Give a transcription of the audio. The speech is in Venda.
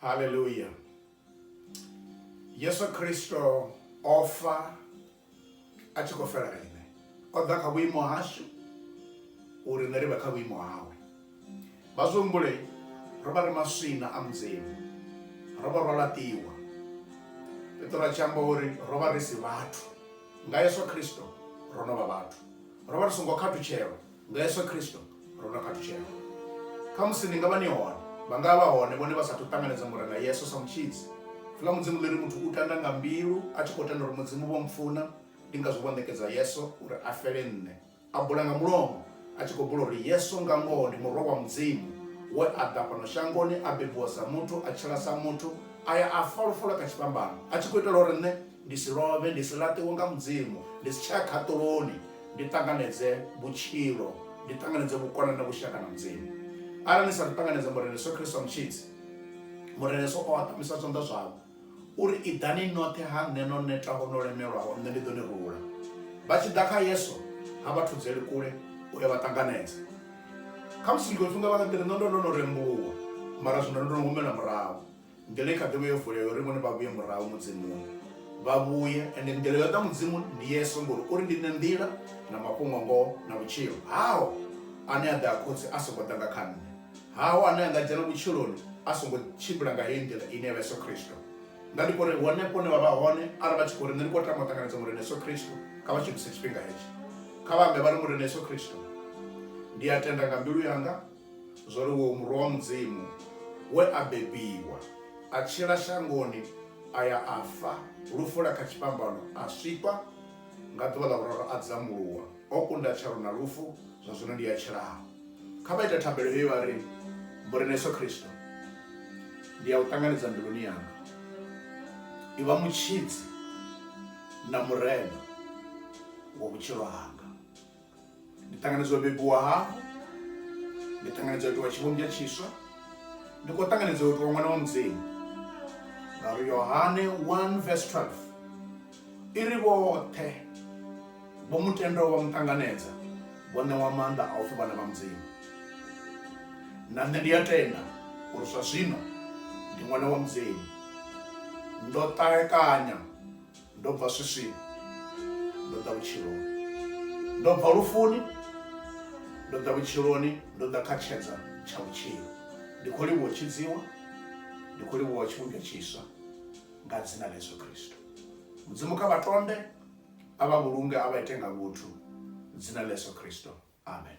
Hallelujah. Yesu Kristo o fa a tshi khou fela riṋe o ḓa kha vhuimo hashu uri riṋe ri vhe kha vhuimo hawe vha zwi humbule ro vha ri maswina a mudzimu ro vha ro laṱiwa petro a tshi amba uri ro vha ri si vhathu nga yesu kristo ro no vha vhathu ro vha ri songo khathutshelwa nga yesu khristo ro no khathutshela kha musi ni nga vha ni hone vha nga vha hone vhone vha sathu ṱanganedza murena yesu sa mutshidzi fula mudzimu ḽi ri muthu u tanda nga mbilu a tshi khou tenda uri mudzimu vho mpfuna ndi ngazwo vho ṋekedza yesu uri a fele nṋe a bula nga mulomo a tshi khou bula uri yesu nga ngoho ndi murwa wa mudzimu we a ḓa fhano shangoni a bebiwa sa muthu a tshila sa muthu a ya a fa lufulo kha tshifhambano a tshi khou itela uri nṋe ndi si lovhe, ndi si laṱiwe nga Mudzimu, ndi si tsha ya khaṱuloni, ndi ṱanganedze vhutshilo, ndi ṱanganedze vhukonani na vhushaka na Mudzimu. Arali ni sa ḓi ṱanganedza Murena Yesu Kristo Mutshidzi, Murena Yesu o aṱamisa zwanḓa zwavho uri iḓani noṱhe ha nṋe no netaho no lemelwaho, nṋe ndi ḓo ni rula. Vha tshi ḓa kha Yesu ha vha thudzeli kule u ya vha ṱanganedza. Khamusi tshiṅwe tshifhinga vha nga ḓi ri, nṋe ndo ndo no rembuluwa, mara zwino ndo no humela murahu. Migelo i kha ḓivha yo vulea uri vhone vha vhuye murahu Mudzimuni. Vha vhuye, ende migelo yo ḓa Mudzimuni ndi Yesu, ngori uri ndi nṋe nḓila na mafhungo ngoho na vhutshilo. Haho ane a ḓa ha Khotsi a songo ḓa nga kha nṋe. Haho ane a nga dzhena vhutshiloni a songo tshimbila nga heyi nḓila ine ya vha Yesu Khristo. Nga ndi khou ri henefho hune vha vha hone arali vha tshi khou ri nṋe ndi khou tama u ṱanganedza Murena Yesu Khristo, kha vha shumise tshifhinga hetsho. Kha vha ambe vha ri, Murena Yesu Khristo, ndi a tenda nga mbilu yanga, Zwo ri uyo Murwa wa Mudzimu we a bebiwa, a tshila shangoni, a ya a fa lufu lwa kha tshifhambano, a swikwa, nga ḓuvha ḽa vhuraru a dzamuluwa, o kunda tshalo na lufu, zwa zwino ndi a tshilaho. Kha vha ite thabelo heyi vha ri, Murena Yesu Kristo, ndi a U ṱanganedza mbiluni yanga. Ivha Mutshidzi na Murena wa vhutshilo hanga. ndi ṱanganedza u bebiwa hafhu ndi ṱanganedza u itiwa tshivhumbwa tshiswa ndi khou ṱanganedza u itiwa ṅwana wa mudzimu ngauri yohane 1 vs 12 i ri vhoṱhe vho mutendo vha mu ṱanganedza vho ṋewa maanḓa a u pfhi vhana vha mudzimu na nṋe ndi a tenda uri zwa zwino ndi ṅwana wa mudzimu ndo ṱalekanya ndo bva swiswini ndo ḓa vhutshiloni ndo bva lufuni ndo ḓa vhutshiloni ndo ḓa kha tshedza tsha vhutshilo ndi khou livhuwa tshidziwa ndi khou livhuwa tshivhumbwa tshiswa nga dzina ḽa yesu kristo mudzimu kha vha tonde a vha vhulunge a vha ite nga vhuthu dzina ḽa yesu kristo amen